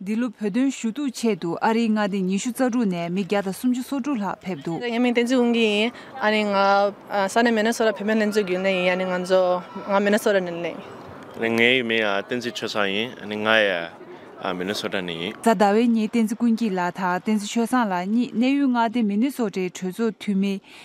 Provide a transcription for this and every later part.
འདི་ལོ་བོད་དོན་ཞུ་གཏུག་ཆེད་དུ་ཨ་རིའི་མངའ་སྡེ་ཉི་ཤུ་རྩ་དྲུག་ནས་མི་བརྒྱ་དང་སུམ་ཅུ་སོ་དྲུག་ལྷག་ཕེབས་འདུག། ཡིན་མིན་བསྟན་འཛིན་དབང་གིས་ཡིན། ཨ་རིའི་མངའ་ས་ནི་མེ་ནོ་སོ་ར་བོད་དོན་ལྷན་ཚོགས་རྒྱུན་ལས་ཡིན་ཡ་ནི་ང་ཚོ་ང་མེ་ནོ་སོ་ར་ནས་གླེང། ངའི་ཡུལ་མིང་བསྟན་འཛིན་ཆོས་བཟང་ཡིན་ཨ་ནི་ང་ཡ་མེ་ནོ་སོ་ར་ནས་ཡིན། རྫ་ཟླ་བའི་ཉིན་བསྟན་འཛིན་ཀུན་སྐྱིད་ལགས་དང་བསྟན་འཛིན་ཆོས་བཟང་ལགས་གཉིས་གནས་ཡུལ་མངའ་སྡེ་མེ་ནི་སོ་རའི་གྲོས་ཚོགས་འཐུས་མི།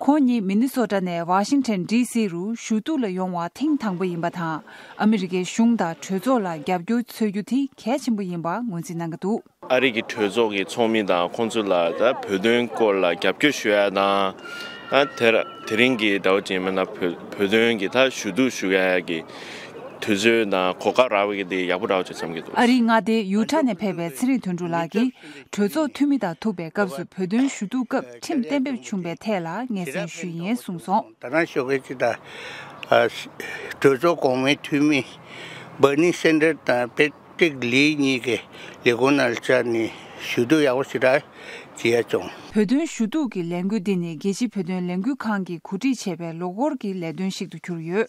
ཁོང་ཉིད་མི་ནི་སོ་ཀྲ་ནས་བྷ་ཤིང་ཐན་ཀྲི་སི་རུ་ཞུ་གཏུག་ལ་ཡོང་བ་ཐེངས་དང་པོ་ཡིན་པ་དང་ཨ་མི་རི་ཀའི་གཞུང་དང་གྲོས་ཚོགས་ལ་རྒྱབ་སྐྱོར་འཚོལ་རྒྱུ་དེ་གལ་ཆེན་པོ་ཡིན་པ་ངོས་འཛིན་གནང་གི་འདུག། ཨ་རི་ཀའི་གྲོས་ཚོགས་ཀྱི་ཚོགས་མི་དང་ཁོང་ཚོ་ལ་བོད་དོན་སྐོར་ལ་རྒྱབ་སྐྱོར་ཞུ་ཡ་དང། དེ་རིང་གི་ཟླ་བ་ཅན་མན་ལ་བོད་དོན་གྱི་ཐ་ཞུ་གཏུག་ཞུ་ཡ་གི་དུས་ཚོད་དང་གོ་སྐབས་རག་པ་གི་དེ་ཡག་པོ་རག་ཆོག་བསམ་གི་འདུག། ཨ་རིའི་མངའ་སྡེ་ཡུ་ཏྲ་ནས་ཕེབས་པའི་ཚེ་རིང་དོན་གྲུབ་ལགས་ཀྱིས་གྲོས་ཚོགས་འཐུས་མི་དང་ཐུག་པའི་སྐབས་སུ་བོད་དོན་ཞུ་གཏུག་སྐབས་ཁྲིམས་གཏན་འབེབས་བྱུང་པའི་ཐད་ལ་ངེས་གཟིགས་ཞུས་ཡིན་གསུངས་སོང། ད་རང་ཤོག་ཁག་ཅིག་དང། གྲོས་ཚོགས་གོང་མའི་འཐུས་མི་སྦར་ནི་སེན་ཏར་དང་པེ་ཏིག་ལི་གཉིས་ཀྱི་ལས་ཁུངས་ནང་བཅར་ནས་ཞུ་གཏུག་ཡག་པོ་ཞེ་དྲག་བྱེད་ཡ་བྱུང། བོད་དོན་ཞུ་གཏུག་གི་ལས་འགུལ་འདི་ནི་རྒྱལ་སྤྱི་བོད་དོན་ལས་འགུལ་ཁང་གིས་གོ་སྒྲིག་བྱས་པའི་ལོ་འཁོར་གྱི་ལས་དོན་ཞིག་ཏུ་གྱུར་ཡོད།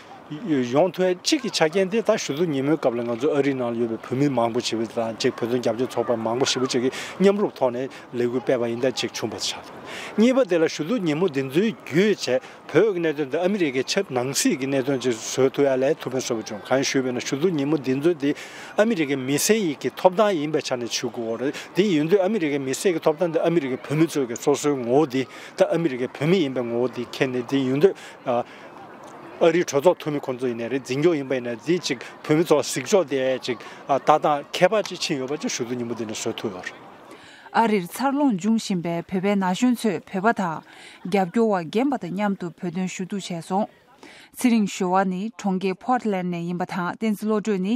གཞུང་དོན་གཅིག་གི་ཆ་རྐྱེན་དེ་ད་ཞུ་ཚོགས་ཉིན་མོའི་སྐབས་ལ་ང་ཚོ་ཨ་རིའི་ནང་ལ་ཡོད་པའི་བོད་མི་མང་པོ་ཞིག་བོད་དོན་རྒྱབ་སྐྱོར་ཚོགས་པ་མང་པོ་ཞིག་བཅས་ཀྱིས་མཉམ་རུབ་ཐོག་ནས་ལས་འགུལ་སྤེལ་བ་ཡིན་ད་ཅིག་བྱུང་པ་ཆགས་འདུག་གཉིས་པ་དེ་ལ་ཞུ་ཚོགས་ཉིན་མོ་འདི་ཚོའི་རྒྱུད་བྱས་བོད་ཀྱི་གནད་དོན་དེ་ཨ་མི་རི་ཀའི་ཆབ་ནང་སྲིད་ཀྱི་གནད་དོན་ཅིག་བཟོས་ཐུབ་ཡ་ལས་ཐུབ་མེད་བཟོ་བ་ཅུང་གང་ཞུས་པས་ན་ཞུ་ཚོགས་ཉིན་མོ་འདི་ཚོ་དེ་ཨ་མི་རི་ཀའི་མི་སེར་ཡིག་གི་ཐོབ་ཐང་ཡིན་པའི་ཆ་ནས་ཆུ་ཁོལ་རེད་དེ་ཡིན་དུས་ཨ་མི་རི་ཀའི་མི་སེར་གྱི་ཐོབ་ཐང་དེ་ཨ་མི་རི་ཀའི་བོད་མི་ཚོས་ཀྱི་སོ་སོའི་ངོ་བོ་དེ་ད་ཨ་མི་རི་ཀའི་བོད་མི་ཡིན་པའི་ངོ་བོ་དེ་ཁྱེར་ནས་དེ་ཡིན་དུས་ཨ་རིའི་གྲོས་ཚོགས་འཐུས་མི་ཁོང་ཚོ་ཡིན་ནས་རེད་འཛིན་སྐྱོང་ཡིན་པ་ཡིན་ནས་འཛིན་ཅིག་བོད་མི་ཚོ་གཟིགས་ཕྱོགས་དེ་ཅིག་ལྟ་སྟངས་ཁྱད་པར་ཅིག་ཕྱིན་ཡོད་པ་ཅིག་ཞུ་ཚུལ་ཉིན་མོ་འདི་ནས་བཟོས་ཐུབ་ཡོད། ཨ་རིར་འཚར་ལོངས་འབྱུང་བཞིན་པའི་བོད་པའི་ན་གཞོན་ཚོས་བོད་པ་དང་རྒྱབ་སྐྱོར་བ་རྒན་པ་དང་མཉམ་དུ་བོད་དོན་ཞུ་གཏུག་བྱས་སོང། ཚེ་རིང་ཞོལ་བ་ནི་གྲོང་ཁྱེར Portland ནས་ཡིན་པ་དང་བསྟན་འཛིན་བློ་གྲོས་ནི་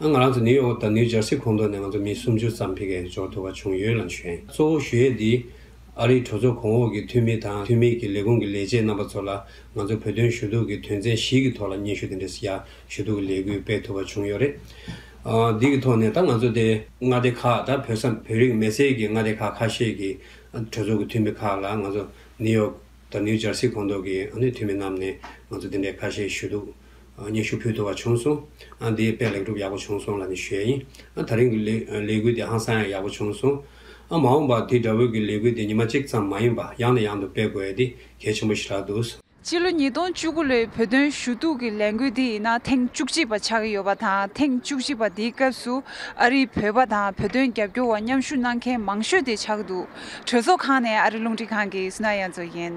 ང་རང་ཚོ་ནིའུ་ཡོག་དང་ནིའུ་ཇར་སི་ཁོངས་གཏོགས་ནས་ང་ཚོ་མི་སུམ་ཅུ་ཙམ་ཕེབས་མཁན་འབྱོར་ཐུབ་པ་བྱུང་ཡོད་ལ་བྱོན། གཙོ་བོ་ཞུ་ཡས་འདིས་ཨ་རིའི་གྲོས་ཚོགས་གོང་འོག་གི་འཐུས་མི་དང་འཐུས་མིའི་གི་ལས་ཁུངས་ཀྱི་ལས་བྱེད་རྣམ་པ་ཚོ་ལ་ང་ཚོ་བོད་དོན་ཞུ་གཏུག་གི་དོན་ཚན་བཞི་གི་ཐོག་ལ་སྙན་ཞུ་དེ་འདྲ་ཞིག་ཞུ་གཏུག་གི་ལས་འགུལ་སྤེལ་ཐུབ་པ་བྱུང་ཡོད་རེད། འདི་གི་ཐོག་ནས་ད་ང་ཚོ་དེ། མངའ་སྡེ་ཁག་དང་བོད་ས་བོད་རིགས་མེད་སའི་གི་མངའ་སྡེ་ཁག་ཁ་ཤས་ཀྱི་གྲོས་ཚོགས་ཀྱི་འཐུས་མི་ཁག་ལ་ང་ཚོ་ནིའུ་ཡོག་དང་ནིའུ་ཇར་སི་ཁོངས་གཏོགས་ཀྱི་འཐུས་མི་རྣམས་ནས་ང་ཚོ་དེ་འདྲའི་ཁ་ཤས་ཞུ་གཏུག་སྙན་ཞུ་ཕུལ་ཐུབ་པ་བྱུང་སོང། འདིའི་དཔེ་ལེགས་གྲུབ་ཡག་པོ་བྱུང་སོང་ལ་ནི་ཞུས་ཡིན། ད་རིང་གི་ལས་འགུལ་འདི་ཧང་སང་ཡང་ཡག་པོ་བྱུང་སོང། མ་འོངས་པར་དེ་འདྲ་བོད་ཀྱི་ལས་འགུལ་འདི་ཉི་མ་གཅིག་ཙམ་མ་ཡིན་པར་ཡང་ནས་ཡང་དུ་སྤེལ་དགོས་ཡས་འདི་གལ་ཆེན་པོ་ཞིག་རག་འདུག། སྤྱི་ལོ་ཉིས་སྟོང་བཅུ་དགུ་ལོའི་བོད་དོན་ཞུ་གཏུག་གི་ལས་འགུལ་འདི་ཡིན་ན་ཐེངས་བཅུ་གཅིག་པ་ཆགས་ཀྱི་ཡོད་པ་དང་ཐེངས་བཅུ་གཅིག་པ་འདིའི་སྐབས་སུ་ཨ་རིའི་བོད་པ་དང་བོད་དོན་རྒྱབ་སྐྱོར་བ་མཉམ་ཞུགས་གནང་མཁན་མང་ཤོས་དེ་ཆགས་འདུག་གྲོས་ཚོགས་ཁང་ནས་ཨ་རི་རླུང་འཕྲིན་ཁང་གི་སི་ན་ཡན་ཙོ་ཡན།